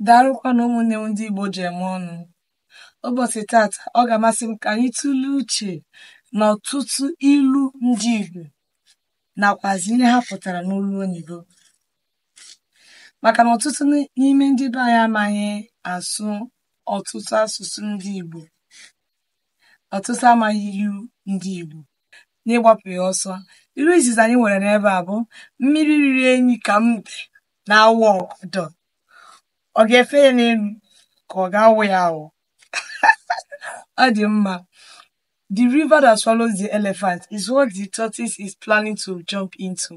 Daalụkwanụ ụmụnne m ndị Igbo ji eme ọnụ. Ụbọchị tata, ọ ga-amasị m ka anyị tụlee uche na ọtụtụ ilu ndị Igbo nakwazi ihe ha pụtara n'olu oyibo. Maka na ọtụtụ n'ime ndị be anyị amaghị asụ ọtụtụ asụsụ ndị Igbo. Ọtụtụ amaghị ilu ndị Igbo. N'ịgbapụ ya ọsọ, ilu izizi anyị nwere n'ebe a bụ mmiri riri enyi ka mbe na-awa ọgọdọ ọ ga-efe ya n'elu ka ọ ga-awụ ya awụ ọ dị mma the river that swallows the elephant is what the tortoise is planning to jump into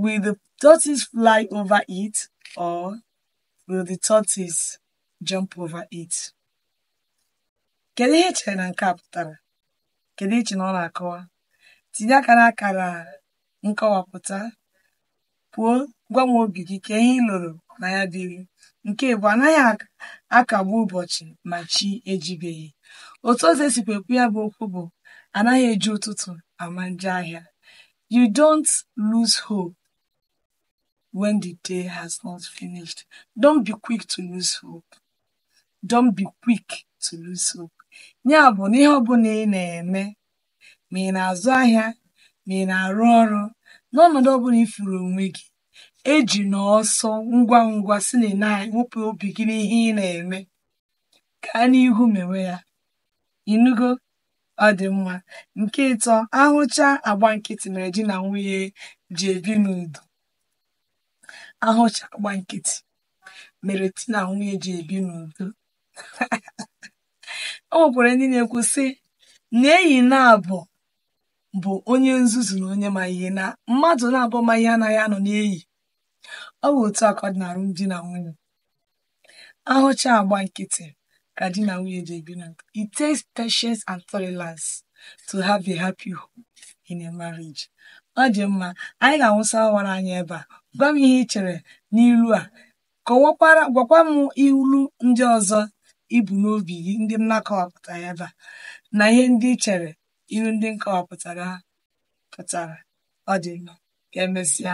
will the tortoise fly over it or will the tortoise jump over it kedu ihe i chere na nke a pụtara kedu ihe i chere na ọ na-akọwa tinye aka n'akara nkọwapụta pụo gwa m obi gị ka ihe ị lụrụ na ya dịrị nke abụọ anaghị akagbu ụbọchị ma chi ejibeghị otu ọzọ e sikwa ekwu ya bụ okwu bụ anaghị eji ụtụtụ ama njọ ahịa you don't lose hope when the day has not finished don't be quick to lose hope don't be quick to lose hope ya bụ na ihe ọbụla ị na-eme ma ị na-azụ ahịa ma ị na-arụ ọrụ n'ọnọdụ ọbụla ị fụrụ onwe gị ejina ọsọ ngwa ngwa si na naanị wepụ obi gị n'ihe ị na-eme gaa n'ihu mewe ya ị nụgo ọ dị mma nke ịtọ ahụcha agba nkịtị mere di na nwunye ji ebi n'udo ahụcha agba nkịtị mere di na nwunye ji ebi n'udo o nwekwara ndị na-ekwu sị na enyi naabọ bụ onye nzuzu na onye ma ihe na mmadụ naabọ ma ihe anaghị anọ n'enyi ọ bụ otu a ka ọ dị n'alụm di na nwunye ahụcha agba nkịtị ka di na nwunye ji ebi na it takes patience and tolerance to have a happy home in a marriage ọ dị mma anyị ga-awụsa ọwara anyị ebe a gwa m ihe ị chere n'ilu a kọwakwara gwakwa m ilu ndị ọzọ i bu n'obi gị ndị m na-akọwapụtaghị ebe a na ihe ndị ị chere ilu ndị m kọwapụtara pụtara ọ dị mma ka emesịa